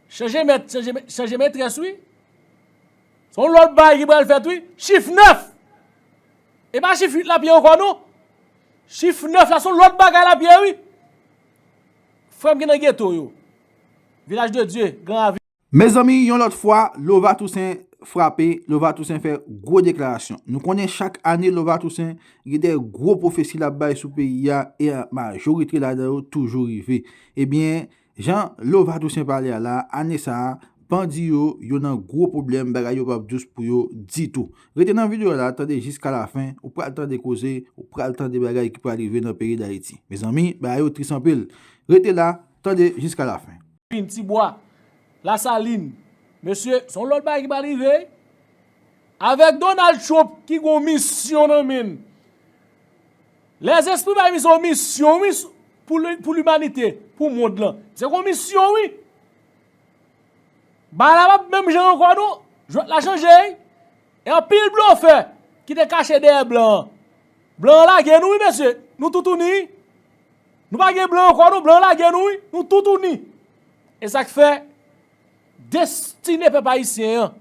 Chanje mèt chanje metrès wi. Se yon lòt bagay ki pral fèt wi. Chif 9! E pa chif 8 l ap ye ankò non. Chif 9 la se yon lòt bagay l ap ye wi. Frè m ki nan geto yo. Vilaj de Dye, Gran Ravin. Mezanmi yon lòt fwa Lova Toussaint frape, Lova Toussaint fè gwo deklarasyon. Nou konnen chak ane Lova Toussaint gen de gwo pwofesi l ap bay sou peyi a e majorite ladan yo toujou rive. Ebyen Jan Lova Toussaint pale a la, ane sa a, bandi yo, yo nan gwo pwoblèm, bagay yo pap dous pou yo ditou. Rete nan video a la, tande jiska lafen, ou pral tande koze, ou pral tande bagay ki pral rive nan peyi Dayiti. Mezanmi, bagay yo tris anpil. Rete la, tande jiska lafen. Pin, Ti Bwa, Lasalin, mesye, se yon lòt bagay ki pral rive. Avèk Donald Trump ki gen yon misyon nan men l. Lèzespri bay misye yon misyon wi pou limanite, pou mond lan. Se yon misyon wi. Bagay la pap menm jan ankò non. Jwèt la chanje wi. E anpil blofè ki te kache dèyè blan an. Blan an lage nou wi mesye. Nou toutouni wi. Nou pa gen blan ankò non. Blan an lage nou wi. Nou toutouni. E sa k fè destine pèp ayisyen an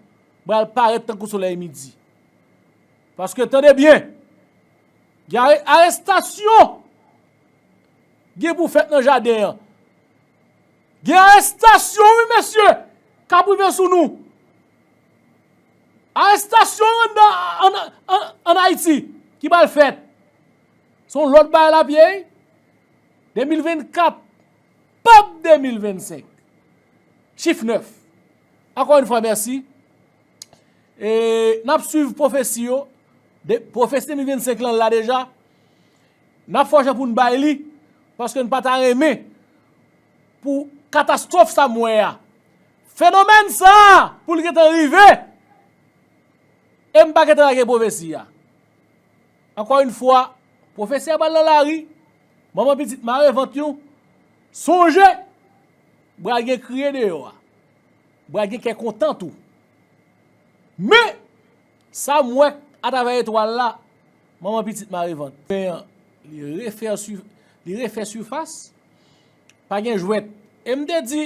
pral parèt tankou solèy midi. Paske tande byen, gen arestasyon gen pou fèt nan jaden an. Gen arestasyon wi mesye kap rive sou nou. Arestasyon an Ayiti ki pral fèt. Son lòt bagay lap ye. 2024 pap 2025. Chif 9. Anko yon fwa mèsi. E nap swiv pwofesi yo. Pwofesi 2025 lan la deja. Nap fè yon jan pou nou bay li. Paske nou pa ta renmen. Pou katastrof sa mwen ya. Fenomen sa pou li gentan rive. E m pa gentan lage pwofesi ya. Anko yon fwa. Pwofesi ya bal nan la ri. Manman pitit mare vant yon. Sonje. Bra gen kriye deyo a. Bra gen kè kontan tou. Men! Sam wè atravè etwal la, manman pitit mare vant. Pen an li refè sifas. Pa gen jwèt. E m te di.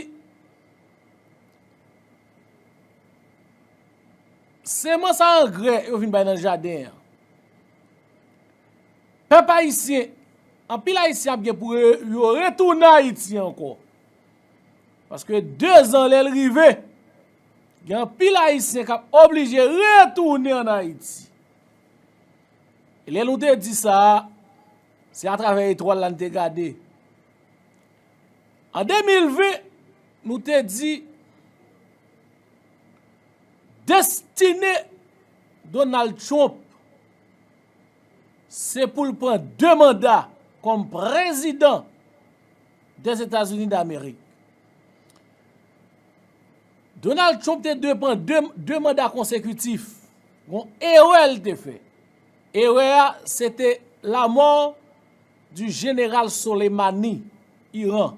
Semans a angrè yo vin bay nan jaden an. Pèp ayisyen, anpil ayisyen ap gen pou yo retounen Ayiti ankò. Paske 2 zan lè l rive, gen anpil Ayisyen k ap oblije retounen ann Ayiti. E lè nou te di sa, se atravè etwal la n te gade. An 2020, nou te di, destine Donald Trump, se pou l pran 2 manda kòm prezidan. Des États-Unis d'Amérique. Donald Trump te dwe pran 2 manda konsekutif. Gon erè l te fè. Erè a, se te la mò di jeneral Soleimani, Iran.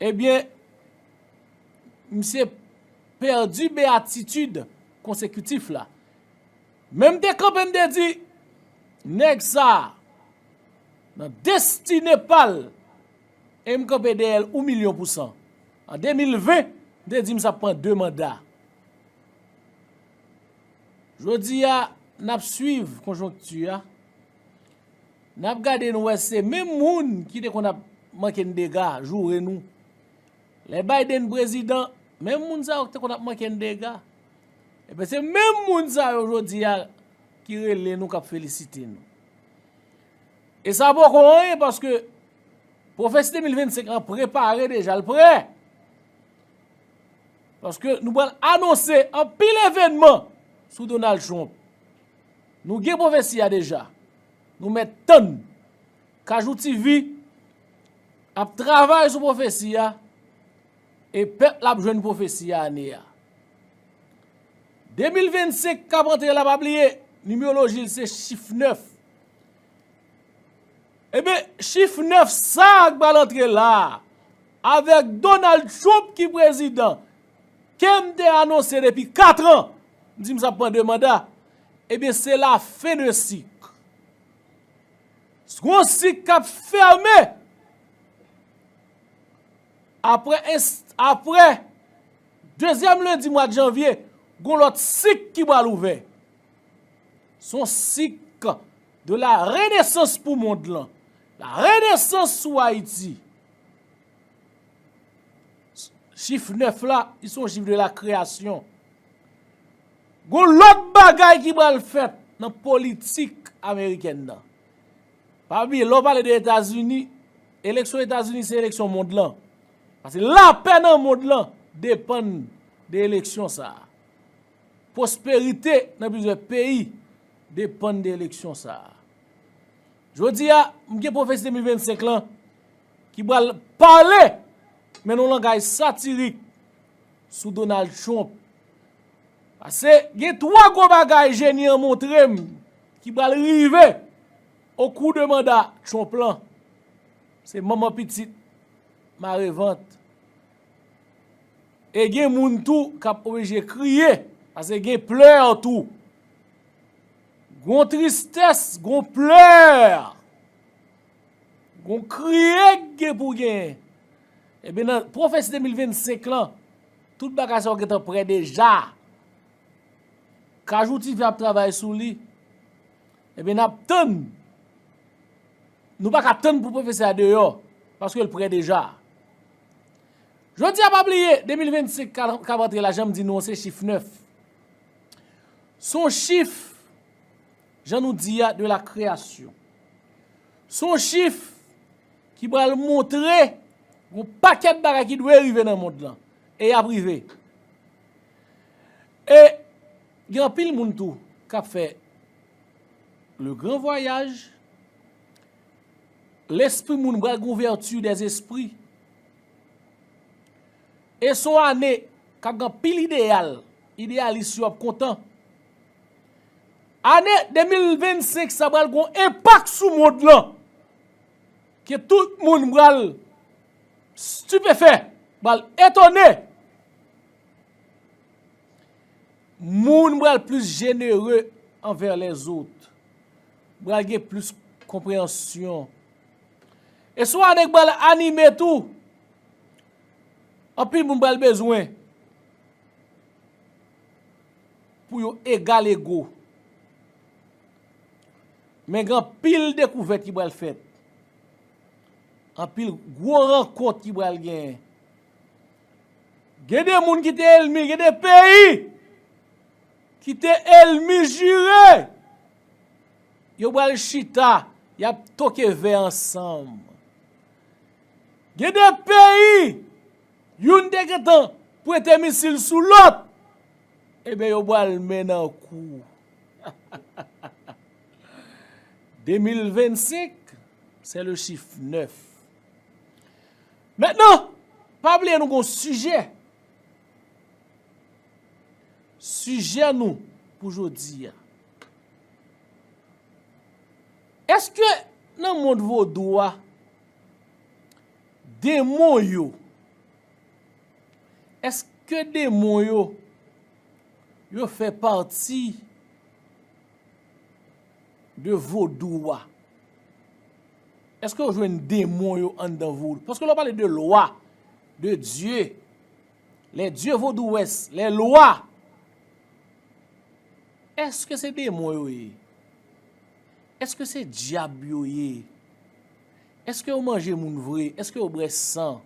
Ebyen, misye pèdi beatitude konsekutif la. Men m te kanpe m te di, nèg sa nan destine pa l e m kanpe dèyè l ou milyon pou san. An 2020, m te di m sa ap pran 2 manda. Jodi a, n ap swiv konjonkti a, n ap gade nou wè se menm moun ki te konn ap manke n dega, joure nou. Lè Biden prezidan, menm moun sa yo ki te konn ap manke n dega. Ebyen se menm moun sa yo jodi a ki rele nou kap felisite nou. E sa poko anyen paske pwofesi 2025 lan prepare deja l prè. Paske nou pral anonse anpil evenman sou Donald Trump. Nou gen pwofesi a deja. Nou met tann. Kajou TV ap travay sou pwofesi a. E pèp la ap jwenn pwofesi a ane a. 2025 k ap antre la pa bliye, nimeoloji l se chif 9. Eben, chif 9 sa a k pral antre la a, avèk Donald Trump ki prezidan, ke m te anonse depi 4 an, m di m s ap pran 2 manda, eben se la fen de sik. S gon sik k ap fèmen. Apre dezyèm lendi mwad janvye, gon lòt sik ki bal ouvè. Son sik de la renesans pou mond lan. La renesans sou Ayiti. Chif 9 la, li son chif de la kreyasyon. Gon lòt bagay ki bal fèt nan politik Ameriken nan. Pa bliye, lè w pale de Etazini, eleksyon Etazini se eleksyon mond lan. Paske lapè nan mond lan depann de eleksyon sa a. Pwosperite nan plizyè peyi depann de eleksyon sa a. Jodi a, m gen pwofesi 2025 lan ki pral pale men yon langaj satirik sou Donald Trump. Pase gen 3 gwo bagay jeni an montre m ki pral rive o kou de manda Trump lan. Se manman pitit mare vant. E gen moun tou k ap oblije kriye. Pase gen pleur tou. Gon tristès, gon pleur. Gon kriye k gen pou gen. Ebyen nan pwofesi 2025 lan. Tout bagay sa yo gentan prè deja. Kajou TV ap travay sou li. Ebyen nap tann. Nou pa ka tann pou pwofesè a deyò. Paske l prè deja. Jodi a pa bliye 2025 kap antre la janm di nou an se chif 9. Son chif jan nou di a de la kreyasyon. Son chif. Ki pral montre yon pakèt bagay ki dwe rive nan mond lan. E y ap rive. E gen anpil moun tou k ap fè le gran vwayaj. Lespri moun pral gen ouvèti dè espri. E s on ane k ap gen anpil ideyal. Ideyalis yo ap kontan. Ane 2025 sa pral gen yon enpak sou mond lan. Ke tout moun pral stupefè, pral etone. Moun pral plis jenere anvè lèzot. Pral gen plis konpreyansyon. E sou ane ki pral anime tou. Anpil moun pral bezwen. Pou yo egal ego. Men gen anpil dekouvèt ki pral fèt. Anpil gwo rankont ki pral gen. Gen de moun ki te elmi, gen de peyi ki te elmi jire. Yo pral chita, y ap toke vè ansanm. Gen de peyi, youn te gen tan pwete misil sou lòt. Eben yo pral men nan kou. 2025 se le chif 9. Mètnan, pa bliye nou gon sijè. Sijè nou pou jodi a. Eske nan mond vodou a, demon yo, eske demon yo, Yo fè pati de vodou wa. Eske yo jwenn demon yo anndan vodou? Paske lè w pale de lwa, de dye, lè dye vodou wès, lè lwa, eske se demon yo ye? Eske se dyab yo ye? Eske yo manje moun vre? Eske yo bwè san?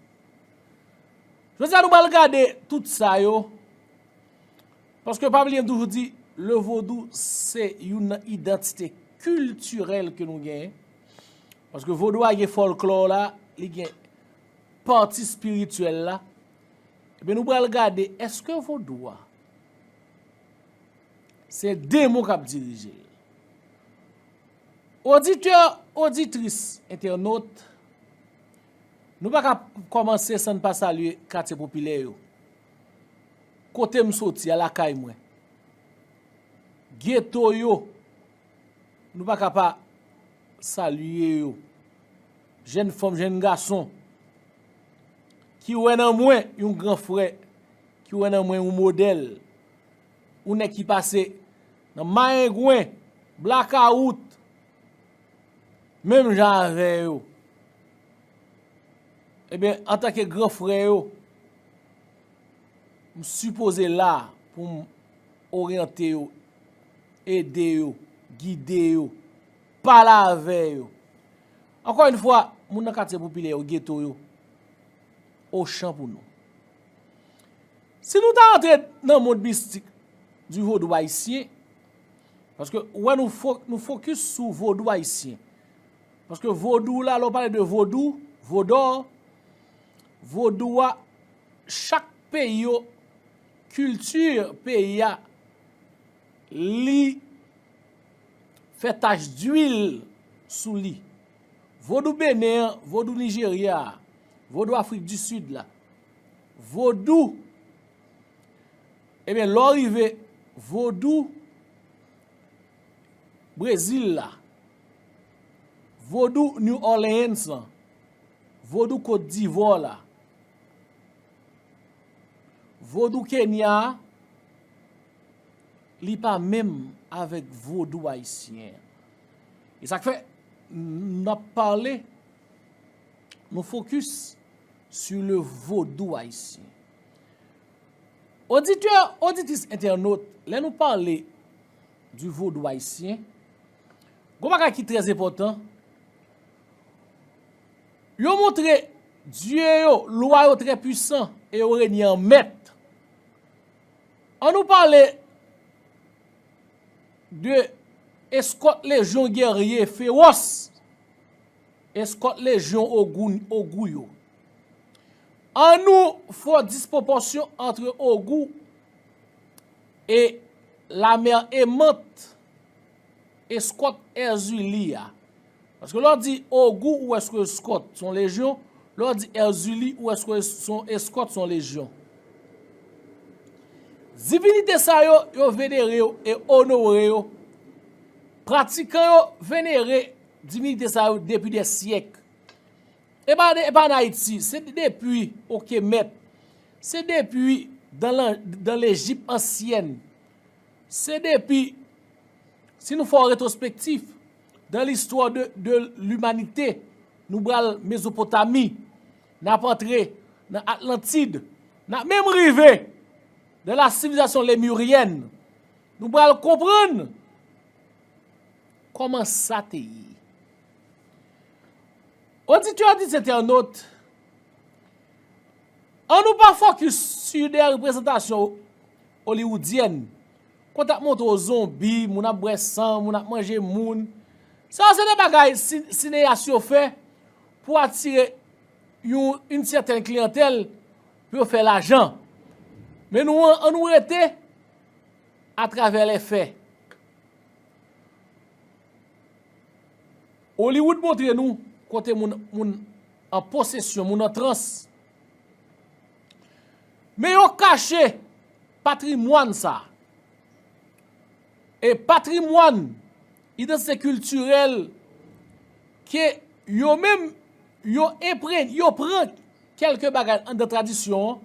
Jodi a nou pral gade tout sa yo, paske pa bliye m toujou di le vodou se youn nan idantite kiltirèl ke nou genyen, paske vodou a gen fòlklò la, li gen pati spirityèl la, ebyen nou pral gade eske vodou a se demon k ap dirije l. Oditè, oditris, entènot, Nou pa ka kòmanse san n pa salye katye popilè yo. Kote m soti a, lakay mwen. Geto yo, nou pa ka pa salye yo. Jenn fanm, jenn gason, ki wè nan mwen yon gran frè, ki wè nan mwen yon modèl, yon nèg ki pase nan mayengwen, blakawout, Menm jan avè yo. Ebyen, antanke gran frè yo, m sipoze la pou m oryante yo, ede yo, gide yo, pale avè yo. Ankò yon fwa, moun nan katye popilè yo, geto yo, ochan pou nou. Si nou ta antre nan mond mistik di vodou ayisyen, Paske ou wè nou fokis sou vodou ayisyen. Paske vodou la lè w pale de vodou, vodor, vodou a chak peyi yo, kilti peyi a li fè tach dwil sou li. Vodou Benen an, vodou Nijerya a, vodou Afrik di Sid la, vodou. Ebyen lè w rive vodou Brezil la, vodou New Orleans lan, vodou Kot Divò la, vodou Kenya a, li pa menm avèk vodou ayisyen. E sa k fè n ap pale, nou fokis. sur le vodou haïtien. Oditè, oditris entènot, lè nou pale du vodou haïtien, gon bagay ki trè enpòtan, yo montre dye yo, lwa yo trè pwisan e yo renye an mèt. An nou pale de eskòt lejyon gèrye fewòs. Eskòt lejyon Ogoun, Ogou, yo. An nou fò dispwopòsyon antre Ogou e lamè emant, eskòt Èzili a. Paske lè w di Ogou ou èske eskòt son lejyon, lè w di Èzili ou èske son eskòt son lejyon. Divinite sa yo, yo venere yo e onore yo. Pratikan yo venere Divinite sa yo depi dè syèk. E pa e pa an Ayiti, se depi o Kemèt, se depi dan lan dan Lejip ansyèn, se depi si nou fè yon retwospektif dan listwa de de limanite nou bral Mezopotami, n ap antre nan Atlantid, n ap menm rive dan la sivilizasyon Lemuryèn, nou bral konprann. Kòman sa te ye? Oditè-oditez entènot, an nou pa fòkis su de reprezantasyon oliwoudyèn, kote ap montre w zonbi, moun ap bwè san, moun ap manje moun. Sa yo se de bagay sineyas yo fè pou atire yon in sèten kliyantèl pou yo fè lajan. Men nou an nou rete. Atravè lèfè, Hollywood montre nou kote moun moun an posesyon, moun an trans. Men yo kache patrimwàn sa. E patrimwàn, idantite kiltirèl ke yo menm yo enpre, yo pran kelke bagay anndan tradisyon an.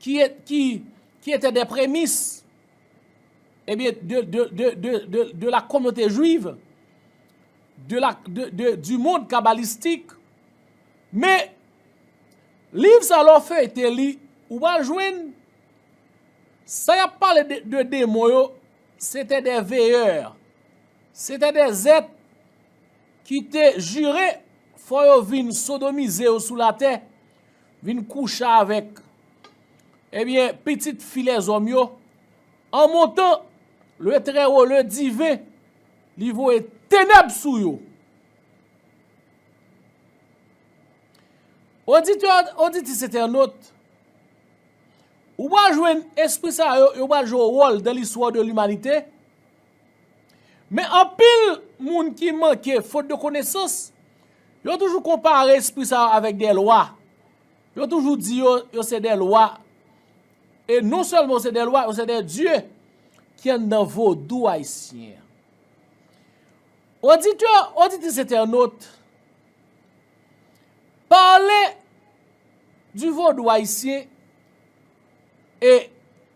ki ete de premis de la kominote jwiv, du mond kabalistik. Men, liv sa lè w feyte li, ou pa jwenn, sa y ap pale de demon yo, se te de veyè, se te de zèt ki te jire fò yo vin sodomize yo sou latè, Vin kouche avèk. Ebyen, pitit fi lèzòm yo, an montan, le Trèwo, le Diven, li voye tenèb sou yo. Oditè, oditris entènot, ou pral jwenn espri sa yo, yo pral jwe yon wòl dan listwa de limanite, Men anpil moun ki manke fot de konesans, yo toujou konpare espri sa yo avèk de lwa. Yo toujou di yo, yo se de lwa. E non sèlman yo se de lwa, yo se de dye ki anndan vodou ayisyen. Oditè, oditris entènot, pale di vodou ayisyen e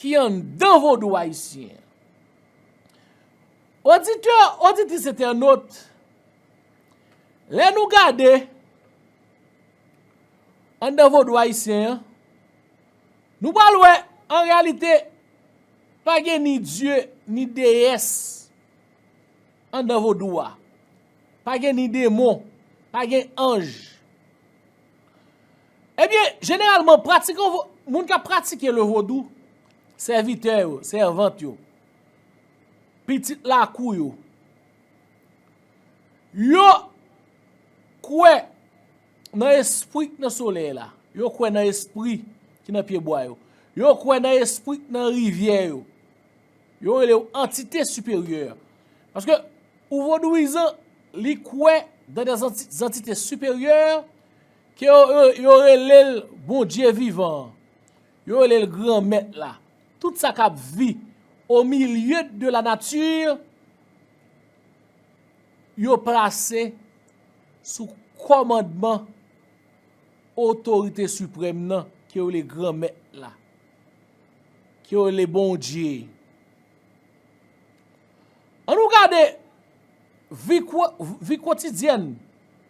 ki anndan vodou ayisyen an. Oditè, oditris entènot, lè nou gade anndan vodou ayisyen an, nou pral wè an reyalite pa gen ni dye ni deyès anndan vodou a, pa gen ni demon, pa gen anj. Ebyen, jeneralman, pratikan vo, moun k ap pratike le vodou, sèvitè yo, sèvant yo, pitit lakou yo, yo kwè nan espri k nan solèy la, yo kwè nan espri ki nan pye bwa yo, yo kwè nan espri k nan rivyè yo, yo rele yo antite siperyè. Paske, ou vodouyizan, li kwè nan de zanti, zantite siperyè Ke yo rele l Bondye vivan an, yo rele l Granmèt la, tout sa k ap vi o milye de la nati, yo plase sou kòmandman otorite siprèm nan ke yo rele Granmèt la, ke yo rele Bondye. An nou gade vi kotidyèn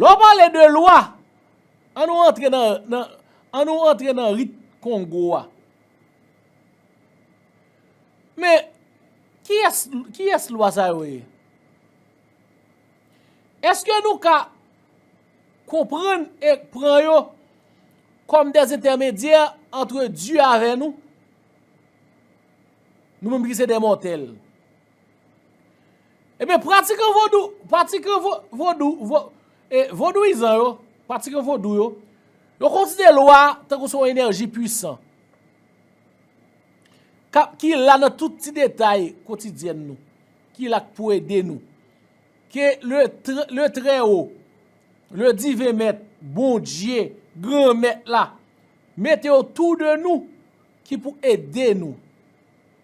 Lè w pale de lwa, an nou antre nan, nan, an nou antre nan rit kongo a. Men, kiyès, kiyès lwa sa yo ye? Eske nou ka konprann e pran yo kòm de entèmedyè antre Dye avè nou? Nou menm ki se de mòtèl. Ebyen pratikan vodou, pratikan vodou, vodouyizan yo, pratikan vodou yo, yo konsidere lwa tankou son enèji pwisan. Kap ki la nan tout ti detay kotidyen nou, ki la k pou ede nou. Ke le trè o, le diven mèt, bondye, gran mèt la, mete otou de nou ki pou ede nou.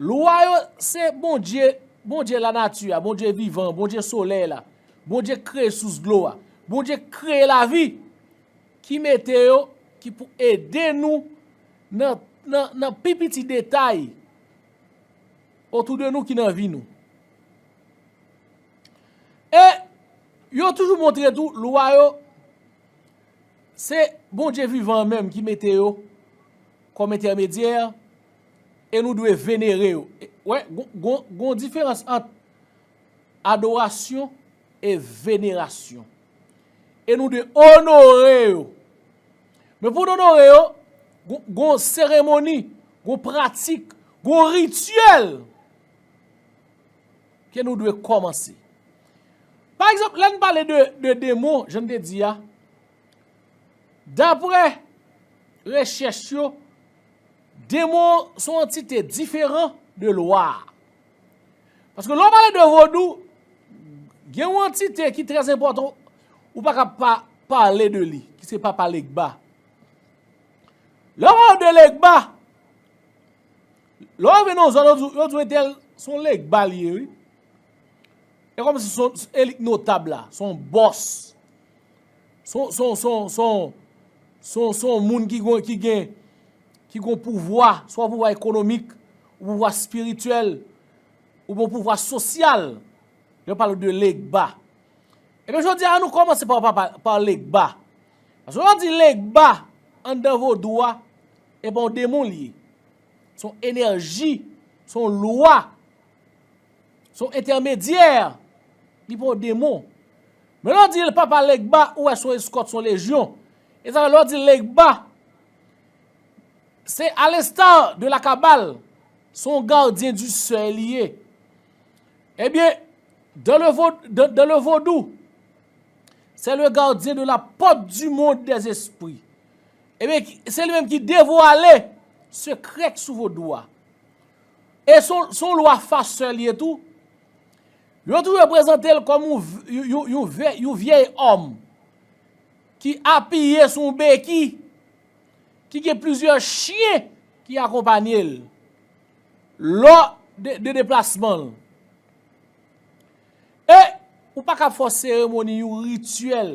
Lwa yo se Bondye, Bondye lanati a, Bondye vivan, Bondye solèy la, Bondye k kreye sous dlo a, Bondye k kreye lavi, ki mete yo, ki pou ede nou nan nan pi piti detay otou de nou ki nan vi nou. E yo toujou montre tou lwa yo se Bondye vivan an menm ki mete yo kòm entèmedyè E nou dwe venere yo. Wè, gon diferans ant adorasyon e venerasyon. E nou dwe onore yo. Men pou nou onore yo, gon seremoni, gon pratik, gon rityèl ke nou dwe kòmanse. Pa egzanp, lè n pale de demon, jan n te di a, dapre rechèch yo, Demon son antite diferan de lwa. Paske lè w pale de vodou, gen yon antite ki trè enpòtan ou pa ka pa pale de li, ki se papa Legba. Lè w pale de Legba, lè w rive nan yon zòn yo di w entèl son Legba li ye wi. E kòm si son elit notab la, son bòs. se yon moun ki gen ki gen pouvwa, swa pouvwa ekonomik, ou pouvwa espirityèl, ou byen pouvwa sosyal, yo pale de Legba. Ebyen jodi a, an nou kòmanse pa Legba. Paske lè yo di Legba, anndan vodou a, e pa yon demon li ye. Se yon enèji, se yon lwa. Se yon entèmedyè, li pa yon demon. Men lè w di l papa Legba, ou wè se yon eskòt, se yon lejyon. E sa fè lè w di Legba, se a lesta de la kabal, se yon gardien du sèil li ye. Ebyen, dan le vodou, se le gardien de la pòt du mond de zespri. Ebyen, se li menm ki devwale sekrè k sou vodou a. E se yon lwa faseur li ye tou. Yo toujou prezante l kòm yon vyèy òm ki apiye sou yon beki, ki gen plizyè chyen ki akonpanye l lò de deplasman l. E ou pa kab fè yon seremoni, yon rituel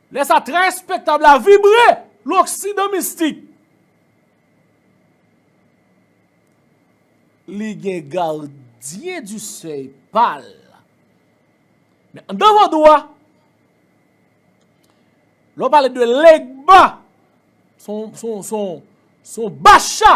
Lè sa trè respektab la vibre loksidan mistik. Li gen gardien du seuil pa l. Men anndan vodou a, lè w pale de Legba, son bacha.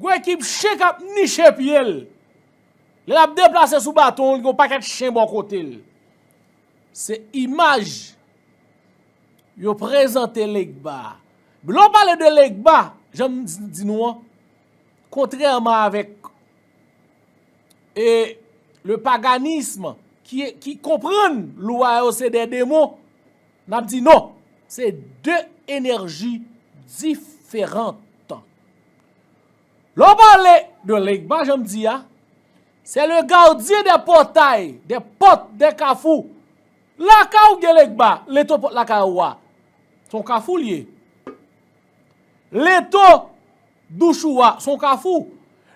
Gwo ekip chen k ap niche pye l. Lè l ap deplase sou baton l gen yon pakèt chen bò kote l. Se imaj yo prezante Legba a. Lè w pale de Legba, jan m di nou an, kontrèman avèk le paganism ki konprann lwa yo se de demon, N ap di non! Se de enèji diferant. Lè w pale de Legba jan m di a, se le gardien des portails, des portes, des carrefours. Lakay ou gen Legba, leto pòt lakay ou a, se yon kafou li ye. Leto douch ou a, se yon kafou.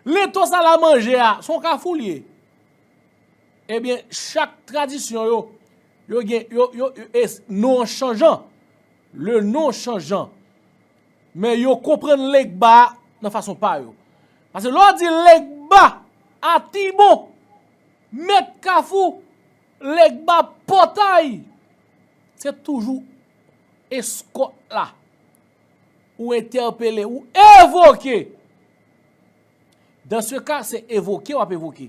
Leto sal a manje a, se yon kafou li ye. Ebyen, chak tradisyon yo, Yo gen, yo, yo, e non an chanjan. Le non chanjan. Men yo konprann Legba a nan fason pa yo. Pase lè w di Legba, Atibon, Mèt Kafou, Legba Pòtay, se toujou eskòt la ou entèpele, ou evoke. Dans se ka, se evoke w ap evoke.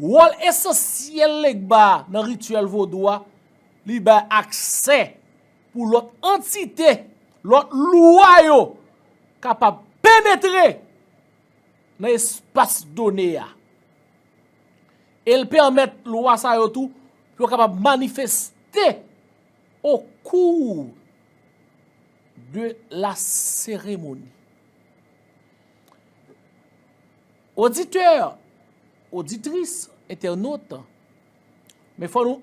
Wòl esansyèl Legba a nan rityèl vodou a, li bay aksè pou lòt antite, lòt loua yo kapab penetre nan espas done a. E l pèmèt loua sa yo tou pou yo kapab manifeste o kou de la seremoni. Oditè, oditris, entènot, men fò nou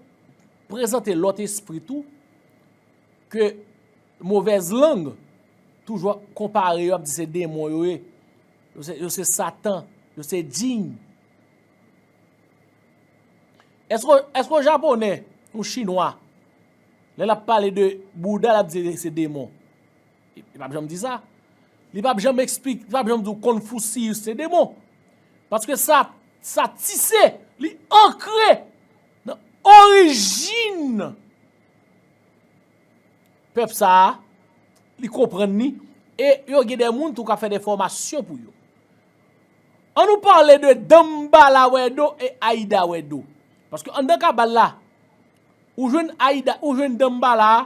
prezante lòt espri tou, ke movèz lang toujou ap konpare yo ap di se denmon yo ye, yo se satan, yo se djinn. Eske yon japonè, yon chinwa, lè l ap pale de bouda l ap di se denmon? Li pap janm di sa. Li pap janm eksplik, li pap janm di w Konfusiyis se demon. Paske sa, sa tise, li ankre nan orijin pèp sa a, li konprann ni, e yo gen de moun tou ka fè de fòmasyon pou yo. An nou pale de Danmbala Wèdo e Ayida Wèdo. Paske anndan kabal la, ou jwenn Ayida, ou jwenn Danmbala a,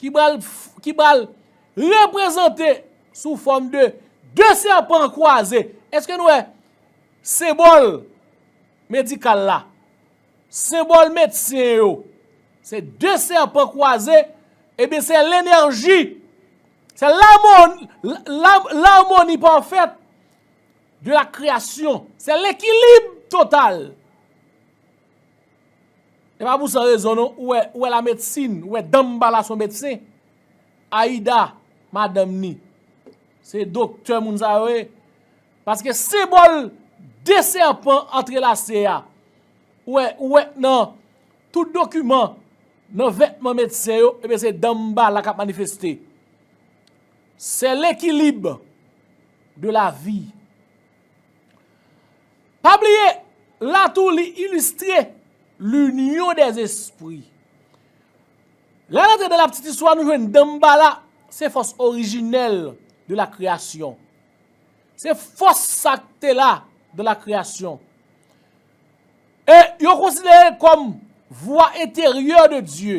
ki pral ki pral reprezante sou fòm de 2 sèpan kwaze eske nou wè senbòl medikal la senbòl medsen yo se 2 sèpan kwaze ebyen se lenèji se lamon lamoni pafèt de la kreyasyon se lekilib total E pa pou san rezon non, ou wè, ou wè la medsin, ou wè Danmbala son medsen. Ayida, madanm ni. Se doktè moun sa yo ye. Paske senbòl de sèpan antrelase a, ou wè, ou wè nan tout dokiman, nan vètman medsen yo, e ben se Danmbala kap manifeste. Se lekilib de la vi. Pa bliye, la tou li ilistre l'union des esprits. Lè n antre nan laptitistwa nou jwenn Danmbala se fòs orijinèl de la kreyasyon. Se fòs sa k te la dan la kreyasyon. E yo konsidere l kòm vwa enteryè de Dye.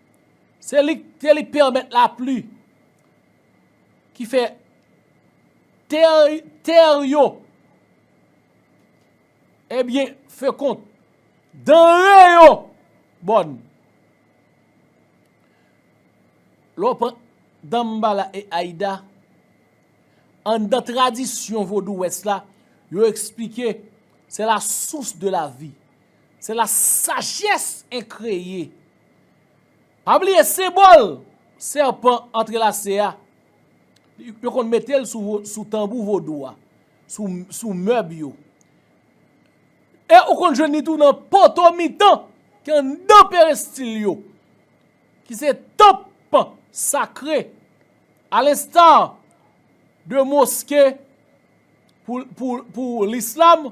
Se li te li pèmèt lapli ki fè tè yo ebyen fekond, danre yo bòn. Lè w pran Danmbala e Ayida, anndan tradisyon vodou wès la, yo esplike se la sous de lavi. Se la sajès en kreye. Pa bliye senbòl sèpan antrelase a, yo konn mete l sou tanbou vodou a, sou mèb yo. E ou konn jwenn li tou nan poto mitan ki anndan perestil yo, ki se tanp sakre. A lensta de moske pou lislam.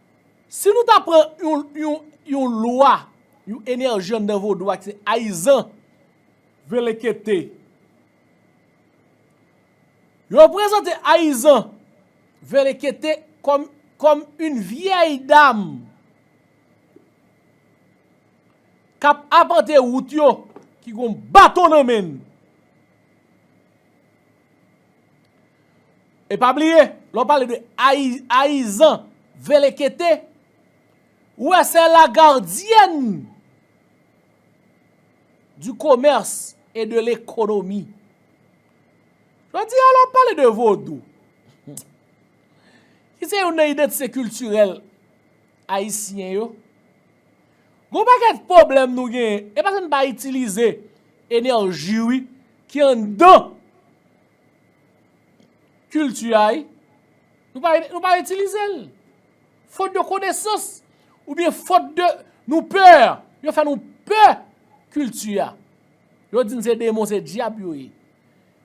Si nou ta pran yon lwa, yon enèji anndan vodou a ki se Ayizan, Velekete. Yo prezante Ayizan, Velekete kòm yon vyèy dam k ap apante wout yo, ki gen yon baton nan men l. E pa bliye, lè w pale de ayizan velekete, ou wè se la gardyèn di komèrs e de lekonomi. Yo di a lè w pale de vodou, ki se yon nan idantite kiltirèl, Ayisyen yo. Gon pakèt pwoblèm nou genyen e paske n pa itilize enèji wi ki anndan kilti a wi. Nou pa itilize l. Fot de konesans oubyen fot de nou pè. Yo fè nou pè kilti a. Yo di n se demon se dyab yo ye.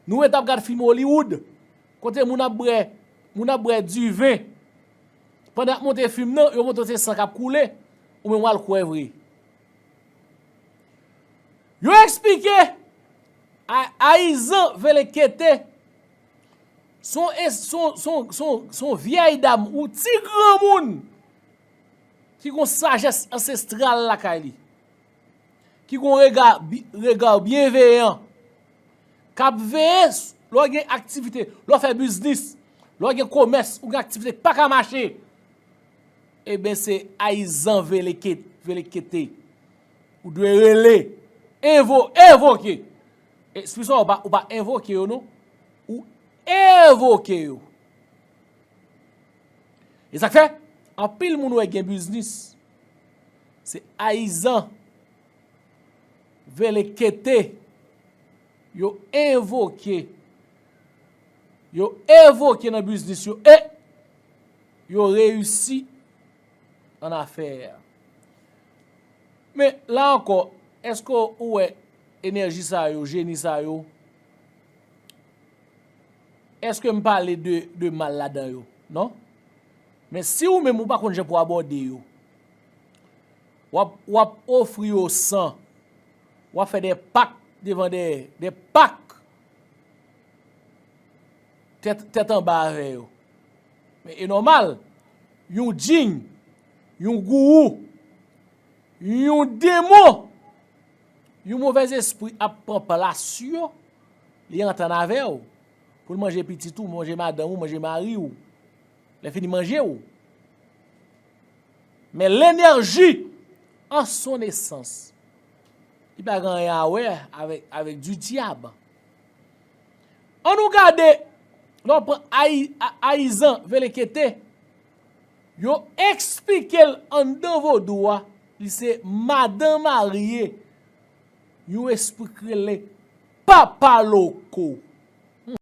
Nou ret ap gad fim Hollywood. Kote moun ap brè moun ap brè diven pandan yap monte fim nan yo montre se san kap koule ou menm wal kwè vre yo esplike ayizan velekete son son vyèy dam ou ti granmoun ki gon sajès ansestral lakay li. Ki gon rega, regard bienveillant. Kap veye lè w gen aktivite, lè w fè biznis, lè w gen komès, ou gen aktivite k pa ka mache. Eben se ayizan veleke, velekete. Ou dwe rele, envo, evoke. E spi sa w pa, ou pa envoke yo non. Ou evoke yo. E sak fè, anpil moun wè gen biznis. Se ayizan vele kete yo envoke yo evoke nan biznis yo e yo reyisi an afè a. Men la ankò eske ou wè enèji sa yo, jeni sa yo, eske m pale de mal ladan yo? Non. Men si ou menm ou pa konn jan pou abòde yo, W ap ofri yo san. W ap fè de pak devan dèyè. De pak tèt anba avè yo. Men e nòmal, yon djinn, yon gourou, yon demon, yon movèzespri ap pran plas yo, li antann avè w, pou l manje pitit ou, manje madanm ou, manje mari ou, lè fini manje ou. Men lenerji an son esans. Li pa gen anyen a wè avèk di dyab. An nou gade, lè w pran Ayizan Velekete, yo eksplike l anndan vodou a, li se madan marye yon espri ki rele Papa Loko.